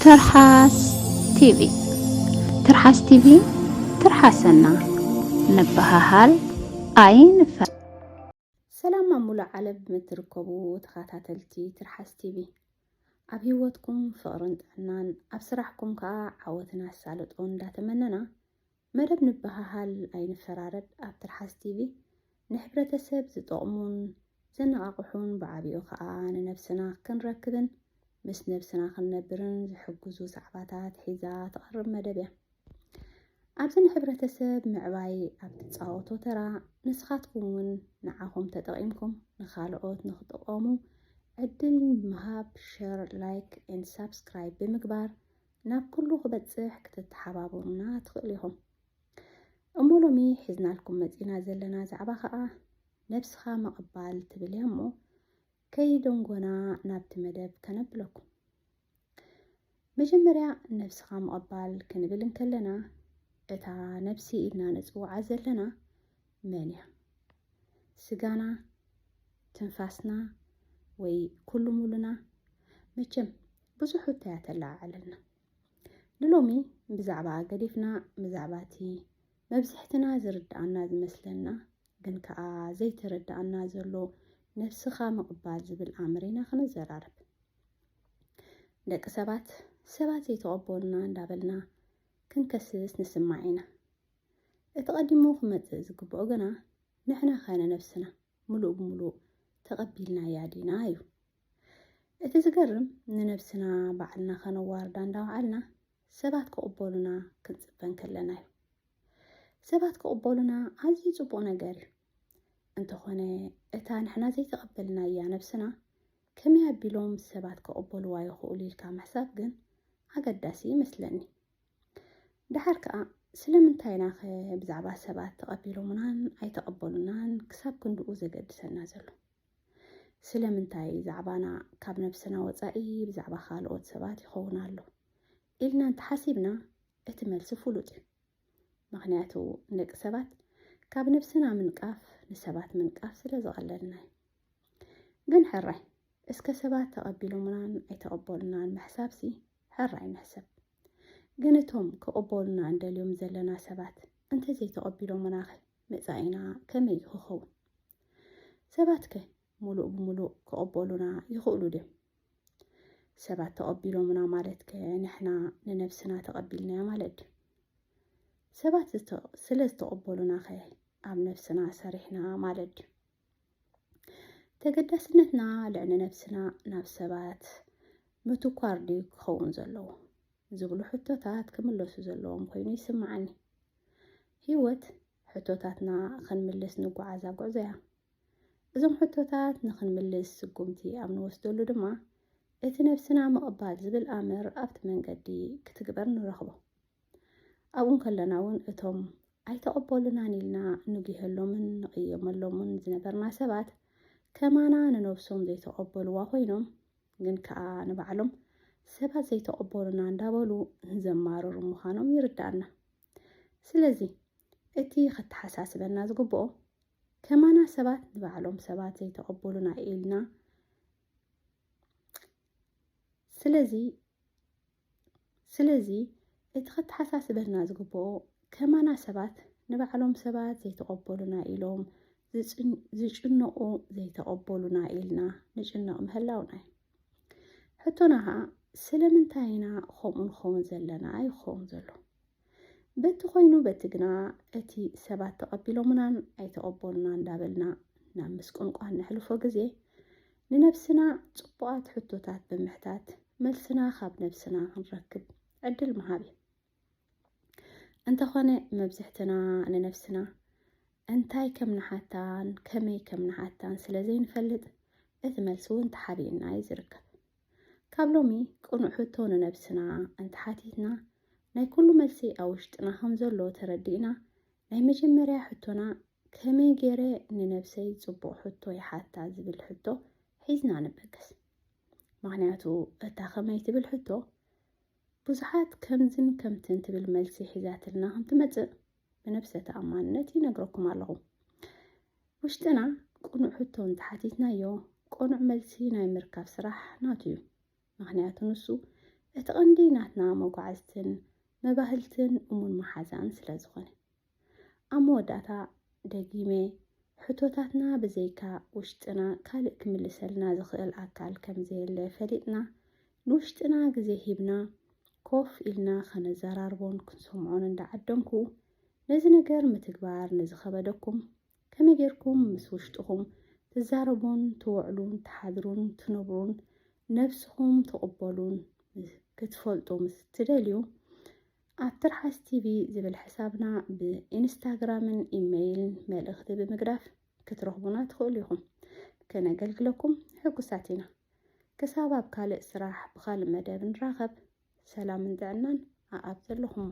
ትርሓስ ቲቪ ትርሓስ ቲቪ ትርሓሰና ንበሃሃል ኣይንፈ ሰላም ኣብ ሙሉእ ዓለም እትርከቡ ተኸታተልቲ ትርሓስ ቲቪ ኣብ ህይወትኩም ፍቕርን ጥዕናን ኣብ ስራሕኩም ከዓ ዓወትን ኣሳልጦ እንዳተመነና መደብ ንበሃሃል ኣይንፈራረድ ኣብ ትርሓስ ቲቪ ንሕብረተሰብ ዝጠቕሙን ዘነቓቕሑን ብዓቢኡ ከኣ ንነብስና ክንረክብን ምስ ነብስና ክንነብርን ዝሕግዙ ዛዕባታት ሒዛ ትቐርብ መደብ እያ። ኣብዚ ንሕብረተሰብ ምዕባይ ኣብ ትጻወቶ ተራ ንስኻትኩም እውን ንዓኹም ተጠቒምኩም ንኻልኦት ንኽጥቐሙ ዕድል ምሃብ ሸር ላይክ ኤንድ ሳብስክራይብ ብምግባር ናብ ኩሉ ክበጽሕ ክትተሓባበሩና ትኽእሉ ኢኹም። እሞ ሎሚ ሒዝናልኩም መጺና ዘለና ዛዕባ ከኣ ነብስኻ ምቕባል ትብል እያ እሞ ከይደንጎና ናብቲ መደብ ከነብለኩም። መጀመርያ ነብስኻ ምቕባል ክንብል እንከለና እታ ነብሲ ኢልና ንጽውዓ ዘለና መን እያ? ስጋና፣ ትንፋስና ወይ ኩሉ ሙሉና? መቸም ብዙሕ ሕቶያ ተለዓዓለልና ንሎሚ ብዛዕባ ገዲፍና ብዛዕባ እቲ መብዝሕትና ዝርድኣና ዝመስለና ግን ከኣ ዘይተረድኣና ዘሎ ነብስኻ ምቕባል ዝብል ኣምር ኢና ክንዘራረብ ደቂ ሰባት ሰባት ዘይተቐበሉና እንዳበልና ክንከስስ ንስማዕ ኢና እቲ ቀዲሙ ክመጽእ ዝግብኦ ግና ንሕና ኸነ ነብስና ምሉእ ብምሉእ ተቐቢልናያ ዲና እዩ እቲ ዝገርም ንነብስና ባዕልና ከነዋርዳ እንዳበዓልና ሰባት ክቕበሉና ክንጽበ እንከለና እዩ። ሰባት ክቕበሉና ኣዝዩ ጽቡቕ ነገር እዩ። እንተኾነ እታ ንሕና ዘይተቐበልናያ ነብስና ከመይ ኣቢሎም ሰባት ክቕበልዋ ይኽእሉ ኢልካ ምሕሳብ ግን ኣገዳሲ ይመስለኒ ደሓር ከዓ ስለምንታይ ናኸ ብዛዕባ ሰባት ተቐቢሎምናን ኣይተቐበሉናን ክሳብ ክንድኡ ዘገድሰና ዘሎ ስለምንታይ ዛዕባና ካብ ነብስና ወጻኢ ብዛዕባ ካልኦት ሰባት ይኸውን ኣሎ ኢልና እንተሓሲብና እቲ መልሲ ፍሉጥ እዩ። ምኽንያቱ ንደቂ ሰባት ካብ ነብስና ምንቃፍ ንሰባት ምንቃፍ ስለ ዝቐለልና እዩ። ግን ሕራይ እስከ ሰባት ተቐቢሎምናን ኣይተቐበሉናን ምሕሳብሲ ሕራይ ንሕሰብ። ግን እቶም ክቕበሉና እንደልዮም ዘለና ሰባት እንተዘይተቐቢሎምናኸ መጻኢና ከመይ እዩ ክኸውን? ሰባትከ ሙሉእ ብሙሉእ ክቕበሉና ይኽእሉ ድዮም? ሰባት ተቐቢሎምና ማለትከ ንሕና ንነብስና ተቐቢልናያ ማለት ድዩ? ሰባት ስለ ዝተቐበሉናኸ ኣብ ነብስና ሰሪሕና ማለት ድዩ? ተገዳስነትና ልዕሊ ነብስና ናብ ሰባት ምትኳር ድዩ ክኸውን ዘለዎ? ዝብሉ ሕቶታት ክምለሱ ዘለዎም ኮይኑ ይስምዓኒ። ህይወት ሕቶታትና ኽንምልስ ንጓዓዛ ጉዕዞ እያ። እዞም ሕቶታት ንኽንምልስ ስጉምቲ ኣብ ንወስደሉ ድማ እቲ ነብስና ምቕባል ዝብል ኣምር ኣብቲ መንገዲ ክትግበር ንረኽቦ። ኣብኡ እንከለና እውን እቶም ኣይተቐበሉናን ኢልና ንጒሀሎምን ንቕየመሎምን ዝነበርና ሰባት ከማና ንነብሶም ዘይተቐበልዋ ኮይኖም ግን ከኣ ንባዕሎም ሰባት ዘይተቐበሉና እንዳበሉ ዘማርሩ ምዃኖም ይርድኣና። ስለዚ እቲ ከተሓሳስበና ዝግብኦ ከማና ሰባት ንባዕሎም ሰባት ዘይተቐበሉና ኢልና ስለዚ ስለዚ እቲ ከተሓሳስበና ዝግብኦ ከማና ሰባት ንባዕሎም ሰባት ዘይተቐበሉና ኢሎም ዝጭነቑ ዘይተቐበሉና ኢልና ንጭነቕ ምህላውና እዩ ሕቶና ከዓ ስለምንታይ ኢና ከምኡ ንኸውን ዘለና ይኸውን ዘሎ በቲ ኮይኑ በቲ ግና እቲ ሰባት ተቐቢሎምናን ኣይተቐበሉና እንዳበልና ናብ ምስቁንቋን ነሕልፎ ግዜ ንነብስና ፅቡቓት ሕቶታት ብምሕታት መልስና ካብ ነብስና ክንረክብ ዕድል ምሃብ እዩ እንተኾነ መብዝሕትና ንነብስና እንታይ ከም ንሓታን ከመይ ከም ንሓታን ስለ ዘይንፈልጥ እቲ መልሲ እውን ተሓቢእና እዩ ዝርከብ ካብ ሎሚ ቅኑዕ ሕቶ ንነብስና እንተሓቲትና ናይ ኩሉ መልሲ ኣብ ውሽጥና ከም ዘሎ ተረዲእና ናይ መጀመርያ ሕቶና ከመይ ገይረ ንነብሰይ ፅቡቕ ሕቶ ይሓታ ዝብል ሕቶ ሒዝና ንበገስ ምክንያቱ እታ ከመይ ትብል ሕቶ ብዙሓት ከምዝን ከምትን ትብል መልሲ ሒዛትልና ከም ትመጽእ ብነብሰ ተኣማንነት ይነግረኩም ኣለኹ። ውሽጥና ቅኑዕ ሕቶ እንተሓቲትናዮ ቅኑዕ መልሲ ናይ ምርካብ ስራሕ ናቱ እዩ። ምክንያቱ ንሱ እቲ ቀንዲ ናትና መጓዕዝትን መባህልትን እሙን መሓዛን ስለ ዝኾነ። ኣብ መወዳእታ ደጊመ ሕቶታትና ብዘይካ ውሽጥና ካልእ ክምልሰልና ዝኽእል ኣካል ከም ዘየለ ፈሊጥና ንውሽጥና ግዜ ሂብና ኮፍ ኢልና ከነዘራርቦን ክንሰምዖን እንዳዓደምኩ ነዚ ነገር ምትግባር ንዝኸበደኩም ከመይ ጌርኩም ምስ ውሽጥኹም ትዛረቡን ትውዕሉን ትሓድሩን ትነብሩን ነብስኹም ትቕበሉን ክትፈልጡ ምስ ትደልዩ ኣብ ትርሓስ ቲቪ ዝብል ሕሳብና ብኢንስታግራምን ኢመይልን መልእኽቲ ብምግዳፍ ክትረኽቡና ትኽእሉ ኢኹም። ከነገልግለኩም ሕጉሳት ኢና። ክሳብ ኣብ ካልእ ስራሕ ብካልእ መደብ ንራኸብ። ሰላምን ጥዕናን ኣኣብ ዘለኹሞ።